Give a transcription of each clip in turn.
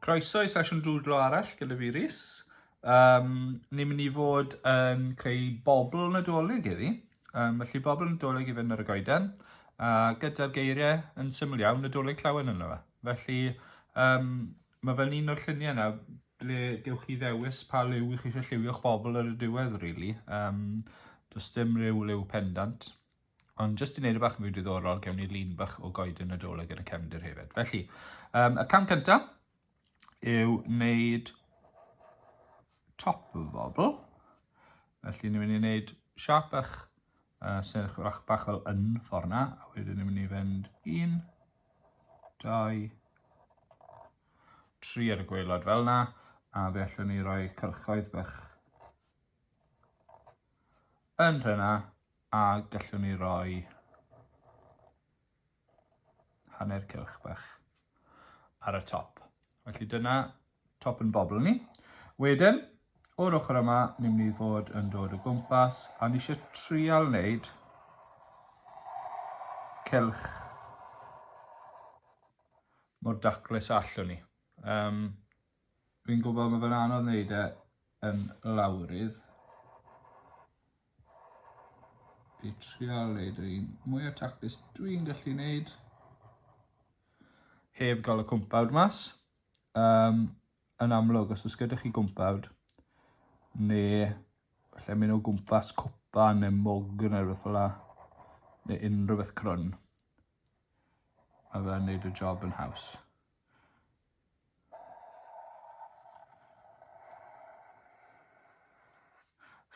Croeso i sesiwn dwdlo arall gyda fi Rhys. Um, ni'n mynd i fod yn creu bobl nadolig iddi. Um, felly bobl nadolig i fynd ar y goeden. A gyda'r geiriau yn syml iawn, nadolig llawen yno fe. Felly, um, Mae fe'n un o'r lluniau yna ble gewch chi ddewis pa liw i chi eisiau lliwio'ch bobl ar y diwedd, really. Um, does dim rhyw liw pendant. Ond jyst i wneud y bach yn fwy diddorol, gewn ni lun bach o goed yn y doleg yn y cefndir hefyd. Felly, um, y cam cyntaf yw wneud top y bobl. Felly, ni'n mynd i wneud siap bach, uh, sy'n edrych bach fel yn ffordd na, a wedyn ni'n mynd i fynd un, 2, 3 ar y gweilod fel yna, a fe allwn ni roi cyrchoedd bach yn rhena, a gallwn ni roi hanner cylch bach ar y top. Felly dyna Top yn bobl ni. Wedyn, o'r ochr yma, ni'n mynd i fod yn dod o gwmpas a ni eisiau trial wneud cylch mor daclus allwn ni. Um, Fi'n gwybod mae fe'n anodd wneud e yn lawrydd. I trial wneud yr un mwy o taclus dwi'n gallu wneud heb gael y cwmpawd mas. um, yn amlwg, os oes gyda chi gwmpawd, neu lle mynd o gwmpas cwpa neu mog neu rhywbeth fel la, neu unrhyw beth crwn, a fe'n neud y job yn haws.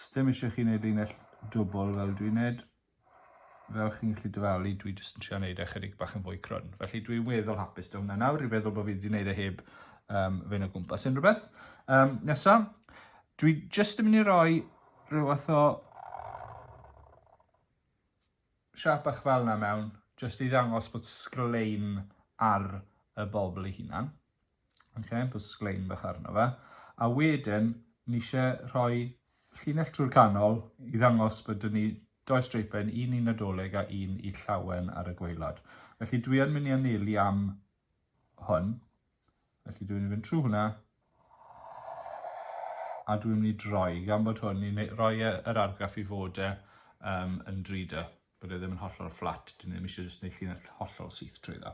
Sdim eisiau chi wneud linell dwbl fel dwi'n wneud, fel chi'n gallu dyfalu, dwi jyst yn trio neud e chydig bach yn fwy crwn. Felly dwi'n weddol hapus da hwnna nawr, i feddwl bod fi wedi neud e heb um, fe'n o gwmpas unrhyw beth. Um, nesa, dwi jyst yn mynd i roi rhyw fath o siap bach fel yna mewn, jyst i ddangos bod sglein ar y bobl ei hunan. Oce, put sglein bach arno fe. A wedyn, ni eisiau rhoi llinell trwy'r canol i ddangos bod dyn ni doi streipen, un i Nadolig a un i llawen ar y gweilod. Felly dwi yn mynd i anelu am hwn. Felly dwi'n mynd i fynd trwy hwnna. A dwi'n mynd i droi, gan bod hwn, ni'n rhoi e, yr argraff i fod e um, yn 3D. bod e ddim yn hollol fflat, dyn ni ddim eisiau jyst gwneud llinell hollol syth trwy dda.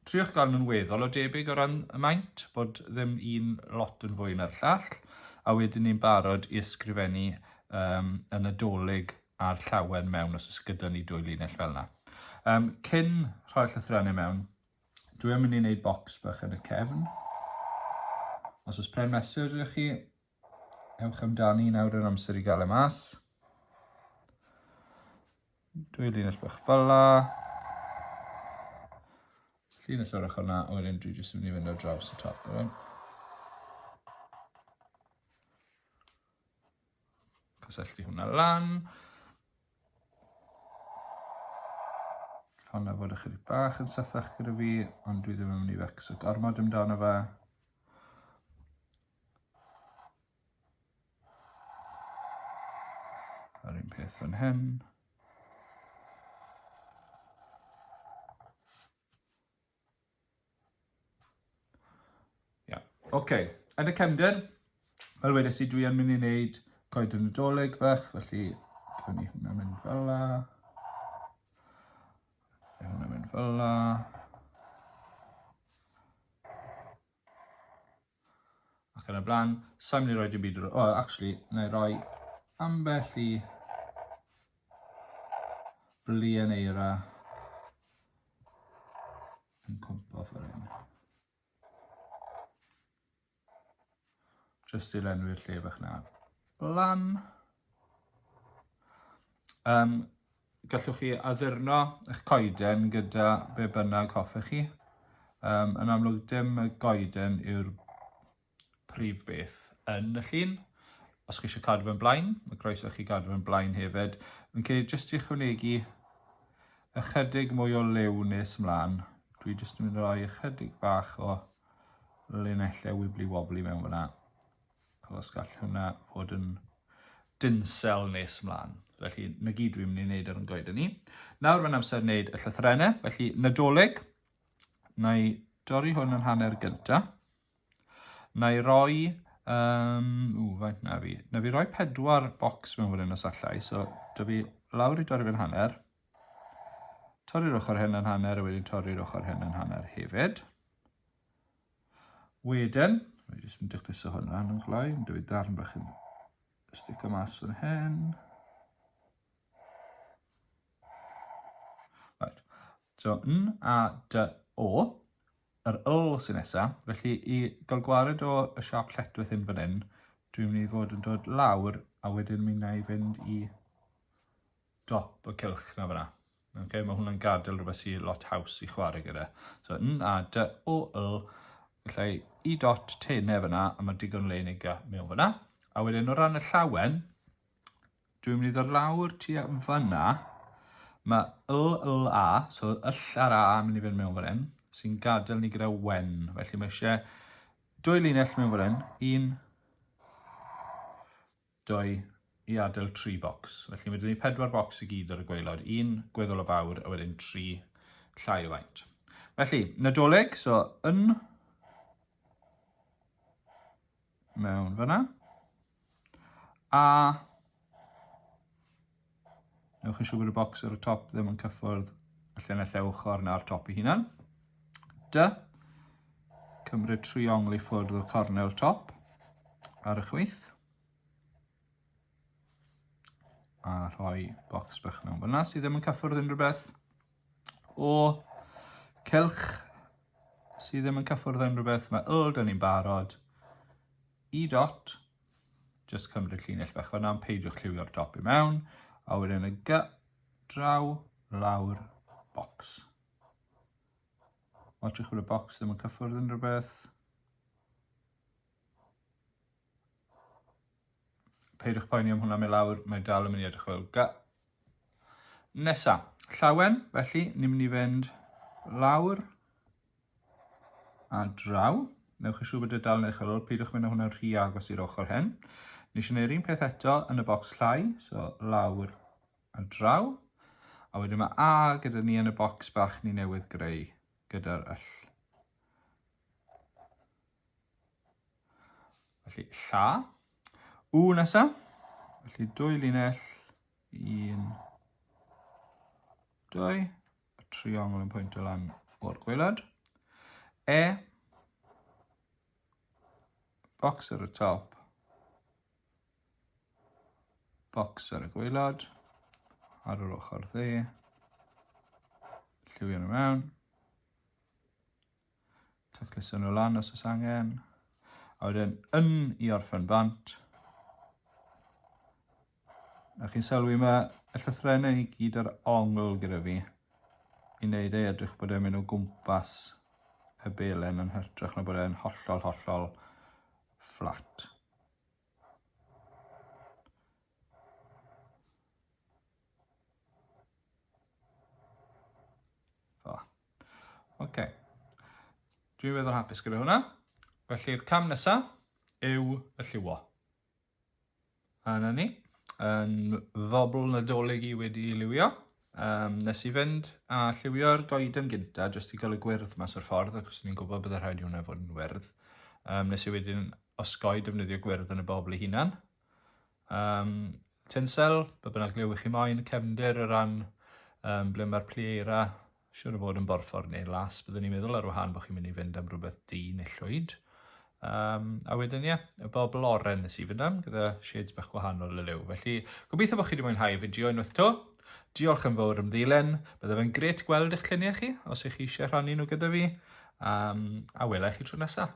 Triwch gael nhw'n weddol o debyg o ran y maint, bod ddim un lot yn fwy na'r llall, a wedyn ni'n barod i ysgrifennu um, yn y dolyg a'r llawen mewn os ys gyda ni dwy linell fel yna. Um, cyn rhoi'r llythrennau mewn, dwi'n mynd i wneud bocs bach yn y cefn. Os oes pen mesur ydych chi, Ewch amdani, nawr yn amser i gael e mas. Dwy linell bach fel la. Linell o'r ochr na, a wedyn dwi jyst yn mynd i fynd ar draws y top. Right? Cysylltu hwnna lan. Honna fod ychydig bach yn sythach gyda fi, ond dwi ddim yn mynd i fecso gormod amdano fe. Yr un peth fan hyn. Ia, oce. Yn y cefnder, fel wedes i, dwi yn mynd i wneud coed yn y doleg bach, felly cawn ni hwnna mynd fel la. Hwnna mynd fel la. Ac yn y blaen, sa'n mynd i roi dim byd ar... Wel, actually, na i roi ambell i blien eira yn cwmpo ffordd hyn. Just i lenwi'r lle bach na. Lan. Um, Gallwch chi addurno eich coeden gyda be bynnag hoffech chi. Um, yn amlwg, dim y goeden yw'r prif beth yn y llun. Os chi eisiau cadw fe'n blaen, mae croeso chi gadw fe'n blaen hefyd. Yn cael jyst i chwnegu ychydig mwy o lew nes ymlaen. Dwi jyst yn mynd i roi ychydig bach o linellau wibli wobli mewn fyna. Os gall hwnna fod yn dinsel nes ymlaen. Felly, na gyd dwi'n mynd i wneud ar yn goeden ni. Nawr mae'n amser wneud y llythrenau. Felly, nadolig, na i dorri hwn yn hanner gynta. Na i roi, um, ww, faint na fi. Na fi roi pedwar bocs mewn wedyn os allai. So, da fi lawr i dorri fe'n hanner. Torri'r ochr hyn yn hanner a wedyn torri'r ochr hyn yn hanner hefyd. Wedyn, rwy'n jyst yn dacluso hwn lan yn flaen, dwi darn bach yn stick o mas fan hyn. Right. So, N a D O, yr L sy'n nesaf, felly i gael gwared o y siap lletwith hyn fan hyn, dwi'n mynd i fod yn dod lawr a wedyn mynd i fynd i dop y cilch na fyna. Okay, mae hwnna'n gadael rhywbeth sy'n lot haws i chwarae gyda. So, n a d o l, felly i dot tenau fyna, a mae digon le yn ei mewn fyna. A wedyn o ran y llawen, dwi'n mynd i ddod lawr ti a fyna, mae l, l, a, so yll ar a yn mynd i fynd mewn fan hyn, sy'n gadael ni gyda wen. Felly mae eisiau dwy linell mewn fan hyn, un, dwy i adael tri bocs. Felly mae gen i pedwar bocs i gyd ar y gwaelod, un gweddol o fawr a wedyn tri llai o faint. Felly, Nadolig, so yn mewn fyna, a Newch yn siŵr bod y bocs ar y top ddim yn cyffwrdd y llinell eu ochr na'r top ei hunan. Dy. Cymryd triongl i ffwrdd o'r cornel top ar y chwith. A rhoi bocs bach mewn fyna sydd ddim yn cyffwrdd unrhyw beth. O cylch sydd ddim yn cyffwrdd unrhyw beth, mae uld yn ni'n barod. I dot Just cymryd llinell bach fanna, ond peidiwch lliwio'r dop i mewn. A wedyn y gy, draw, lawr, box. Watchwch bod y box ddim yn cyffwrdd yn rhywbeth. Peidiwch poeni am hwnna, mae lawr, mae dal yn mynd i edrych fel gy. Nesa, llawen, felly ni'n mynd i fynd lawr, a draw. Newch yn siŵr bod y dal yn eich ar ôl, peidiwch mynd â hwnna'n rhy agos i'r ochr hen. Nes i wneud un peth eto yn y bocs llai, so lawr a draw. A wedyn mae A gyda ni yn y bocs bach ni newydd greu gyda'r yll. Felly lla. U nesa. Felly dwy linell. Un. Dwy. y triongl yn pwyntio lan o'r gwaelod. E, box ar y top, box ar y gwaelod, ar yr ochr dde, lliwio nhw mewn, Tacluso nhw lan os oes angen. A wedyn yn i orffen bant. A chi'n sylwi yma, y llythrenau i gyd ar ongl gyda fi. I wneud ei edrych bod e'n mynd o gwmpas y belen yn hytrach na bod e'n hollol, hollol fflat. O. OK. Dwi'n feddwl hapus gyda hwnna. Felly'r cam nesaf yw y lliwo. A na ni, yn ddobl nadolig i wedi liwio. Um, nes i fynd a lliwio'r goeden gynta, jyst i gael y gwyrdd mas o'r ffordd, ac os ni'n gwybod byddai rhaid i hwnna fod yn wyrdd. Um, nes i wedyn osgoi defnyddio gwyrdd yn y bobl ei hunan, Um, tinsel, be bynnag liw i chi moyn, cefndir o ran um, ble mae'r pli eira, siwr o fod yn borffor neu las, byddwn ni'n meddwl ar wahân bod chi'n mynd i fynd am rhywbeth di neu llwyd. Um, a wedyn ie, y bobl oren nes i fynd am, gyda shades bach gwahanol y liw. Felly, gobeithio bod chi wedi mwynhau y fideo unwaith to. Diolch yn fawr am ddilen. Bydde fe'n gret gweld eich lluniau chi, os ych chi eisiau rhannu nhw gyda fi. Um, a welai chi tro nesaf.